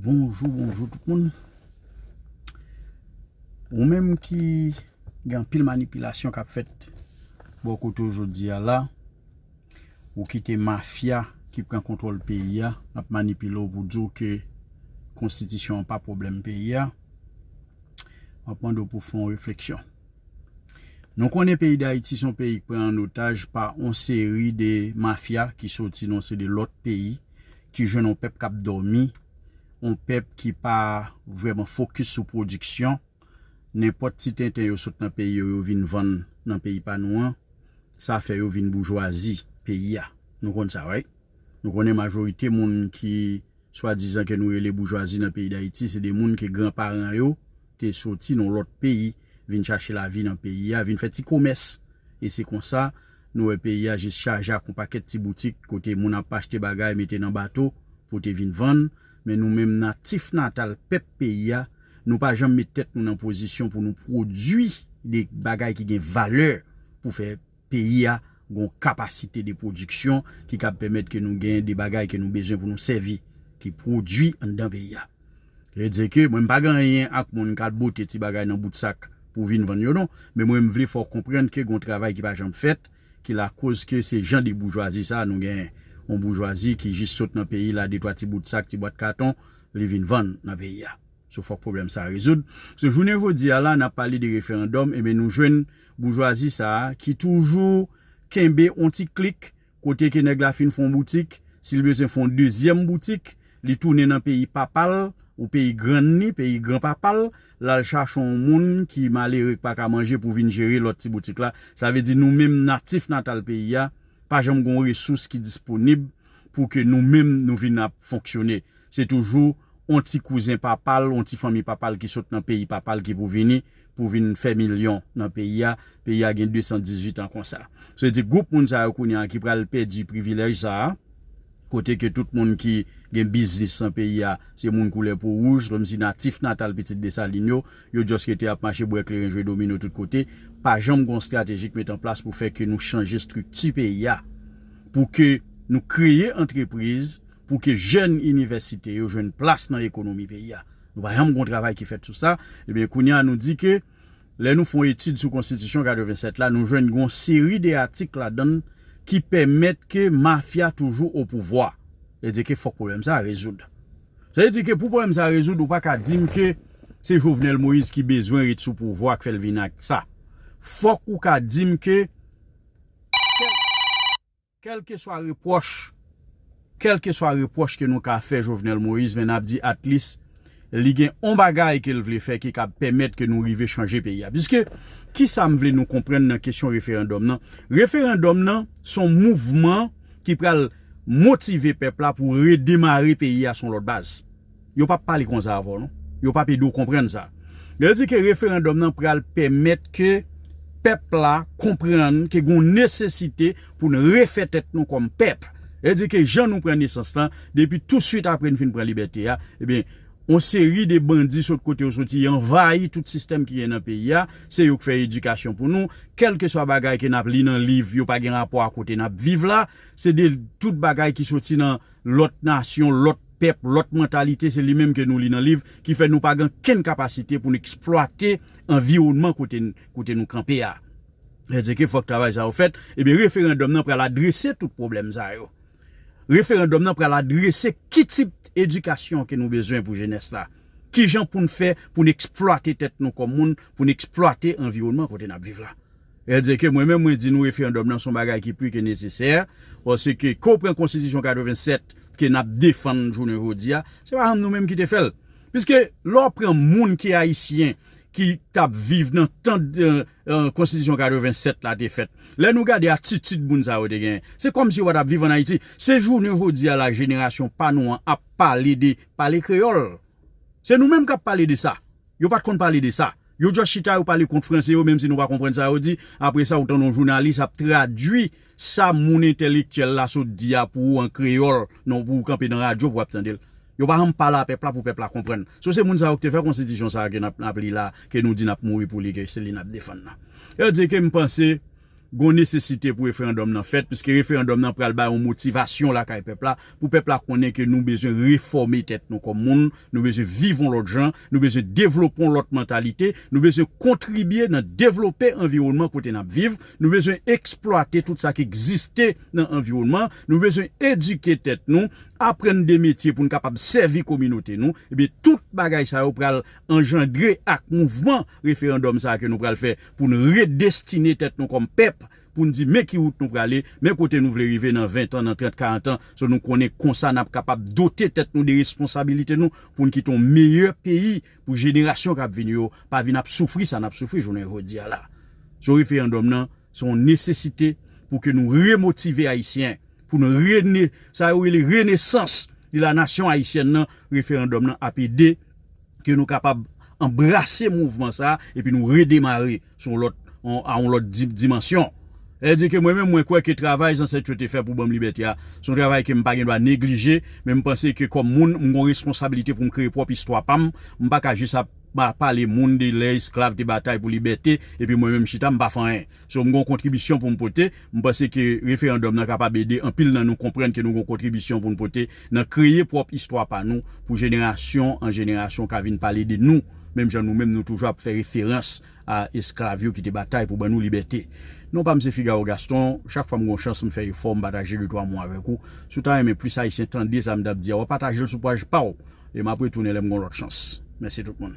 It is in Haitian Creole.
Bonjou bonjou tout moun Ou menm ki gen anpil manipilasyon kap fèt Bon kote ou jodi a la Ou kite mafya ki pran kontwòl peyi a Ap manipile ou pou di ou ke konstitisyon an pa pwoblèm peyi a Map mande ou pou fè yon refleksyon Nou konnen peyi dayiti son peyi ki pran an otaj pa yon seri de mafya ki soti nan yon seri de lòt peyi ki jwenn yon pèp k ap dòmi, yon pèp ki pa vrèman fokis sou pwodiksyon, nenpòt ti tenten yo sot nan peyi yo, yo vin vann nan peyi pa nou an, sa fè yo vin boujwazi peyi a. Nou konn sa right? Nou konnen majorite moun ki swadizan ke nou rele boujwazi nan peyi Dayiti se de moun ke gran paran yo te soti nan lòt peyi vin chache lavi nan peyi a, vin fè ti komès. E se konsa, nou wè peyi a jis chaje ak yon pakèt ti boutik kote moun ap achte bagay mete nan bato pou te vin vann. Men nou menm natif natal pèp peyi a, nou pa janm met tèt nou nan pozisyon pou nou pwodui de bagay ki gen valè pou fè. Peyi a gon kapasite de pwodiksyon ki kab pèmèt ke nou gen de bagay ke nou bezwen pou nou sèvi, ki pwodui anndan peyi a. Vle di ke mwen m pa gen anyen ak moun kal bote ti bagay nan bout sak pou vin vann yo non, men mwen m vle fè w konprann ke gon travay ki pa janm fèt ki lakoz ke se jan de boujwazi sa nou genyen. Yon boujwazi ki jis sot nan peyi la de twa ti bout sak, ti bwat katon li vin vann nan peyi a. So fòk pwoblèm sa rezoud. So jounen jodi a la n ap pale de referandòm enben nou jwenn boujwazi sa a ki toujou kenbe yon ti klik kote ke nèg la fin fè yon boutik, si l bezwen fè yon dezyèm boutik, li tounen nan peyi papa l ou peyi grann ni, peyi gran papa l, l al chache yon moun ki malere k pa ka manje pou vin jere lòt ti boutik la. Sa vle di nou menm natif natal peyi a pa janm gen yon resous ki disponib pou ke nou menm nou vin ap fonksyone. Se toujou on ti kouzen papa l, on ti fanmi papa l ki sot nan peyi papa l ki pou vini pou vin fè milyon nan peyi a. Peyi a gen 218 an konsa. Sa vle di gwoup moun sa yo kounye a ki pral pèdi privilèj sa a, kote ke tout moun ki gen biznis nan peyi a se moun koulè po wouj, kòmsi natif natal pitit Desalin yo, yo just rete ap mache bwè kleren jwe domino tout kote. Pa janm gen on strateji ki met an plas pou fè ke nou chanje estrikti peyi a, pou ke nou kreye antrepriz, pou ke jèn inivèsite yo jwenn plas nan ekonomi peyi a. Nou pa janm gen yon travay ki fèt sou sa. Ebyen, kounye a nou di ke lè nou fè yon etid sou konstitisyon 87 la, nou jwenn gen yon seri de atik ladan l ki pèmèt ke mafya toujou opouvwa. Sa vle di ke fòk pwoblèm sa a rezoud. Sa vle di ke pou pwoblèm sa a rezoud, ou pa ka di m ke se Jovenel Moïse ki bezwen ret sou pouvwa k fè l vin ak sa. Fòk ou ka di m ke. Kèlkeswa repwòch, kèlkeswa repwòch ke nou ka fè Jovenel Moïse men nap di at least li gen on bagay kel vle fè ki kab pèmèt ke nou rive chanje peyi a. Piske kisam vle nou konprann nan kesyon referandòm nan, referandòm nan son mouvman ki pral motive pèp la pou redemare peyi a son lòt baz. Yo pap pale konsa avè w non. Yo pap ede w konprann sa. Lè yo di ke referandòm nan pral pèmèt ke pèp la konprann ke gen yon nesesite pou n refè tèt nou kòm pèp. Lè yo di ke jan nou pran nesans lan, depi touswit apre n fin pran libète a, ebyen, yon seri de bandi sot kote yo soti anvayi tout sistèm ki gen nan peyi a. Se yo k fè edikasyon pou nou. Kèlkeswa bagay ke n ap li nan liv, yo pa gen rapò a kote n ap viv la. Se de tout bagay ki soti nan. lòt nasyon, lòt pèp, lòt mantalite se li menm ke nou li nan liv ki fè nou pa gen kenn kapasite pou nou eksplwate anviwònman kote nou kanpe a. Sa vle di ke fòk travay sa yo fèt. Ebyen referandòm nan pral adrese tout pwoblèm sa yo. Referandòm nan pral adrese ki tip edikasyon ke nou bezwen pou jenès la. Kijan pou nou fè pou nou eksplwate tèt nou kòm moun, pou nou eksplwate anviwònman kote n ap viv la. El di ke mwen menm mwen di nou referandòm nan son bagay ki pli ke nesesè, paske ke w pran konstitisyon 87 ke n ap defann jounen jodi a, se pa janm nou menm ki te fè l. Piske lè w pran moun ki ayisyen ki t ap viv nan tan konstitisyon 87 la te fèt, lè nou gade atitid moun sa yo te genyen, se kòmsi yo pa t ap viv an Ayiti. Se jounen jodi a la jenerasyon pa nou an ap pale de pale kreyòl. Se nou menm k ap pale de sa. Yo pa t konn pale de sa. Yo just chita yo pale kont franse yo menm si nou pa konprann sa yo di, apre sa ou tande yon jounalis ap tradwi sa moun entèlektyèl la sot di a pou ou an kreyòl nan pou ou kanpe nan radyo pou w ap tande l. Yo pa janm pale a pèp la pou pèp la konprann. So se moun sa yo ki te fè konstitisyon sa a ke n ap li la a ke nou di n ap mouri pou li ke se li n ap defann nan. Yo di ke m panse Gon nesesite pou referandòm nan fèt piske referandòm nan pral bay yon motivasyon lakay pèp la pou pèp la konnen ke nou bezwen refòme tèt nou kòm moun, nou bezwen viv yon lòt jan, nou bezwen devlope yon lòt mantalite, nou bezwen kontribye nan devlope anviwònman kote n ap viv, nou bezwen eksplwate tout sa k egziste nan anviwònman, nou bezwen edike tèt nou, aprann de metye pou n kapab sèvi kominote nou, ebyen tout bagay sa yo pral anjandre ak mouvman referandòm sa a ke nou pral fè. pou n redestine tèt nou kòm pèp, pou n di men ki wout nou prale, men kote nou vle rive nan ventan, nan trant, karantan, so nou konnen konsa n ap kapab dote tèt nou de responsabilite nou pou n kite yon meyè peyi pou jenerasyon k ap vini yo pa vin ap soufri sa n ap soufri jounen jodi a la. So referandòm nan se yon nesesite pou ke nou remotive Ayisyen, pou nou rene, sa yo rele renesans de la nasyon ayisyèn nan, referandòm nan ap ede. ke nou kapab anbrase mouvman sa a epi nou redemare sou yon lòt, a yon lòt dimansyon. Lè di ke mwen menm mwen kwè ke travay zansèt yo te fè pou ban m libète a, se yon travay ke m pa gen dwa neglije, men m panse ke kòm moun, m gen yon responsabilite pou m kreye pwòp istwa pa m, m pa ka jis ap pale moun de lè esklav te batay pou libète, epi mwen menm m chita m pa fè anyen. So m gen yon kontribisyon pou m pote, m panse ke referandòm nan kapab ede anpil nan nou konprann ke nou gen yon kontribisyon pou n pote nan kreye pwòp istwa pa nou pou jenerasyon an jenerasyon ka vin pale de nou, menm jan nou menm nou toujou ap fè referans a esklav yo ki te batay pou ban nou libète. Non pa m se Figaro Gaston, chak fwa m gen yon chans m fè efò m pataje de twa mo avèk ou. Si w ta renmen plis Ayisyen tande sa m t ap di a, w a pataje l sou paj pa w e m ap retounen lè m gen yon lòt chans. Mèsi tout moun.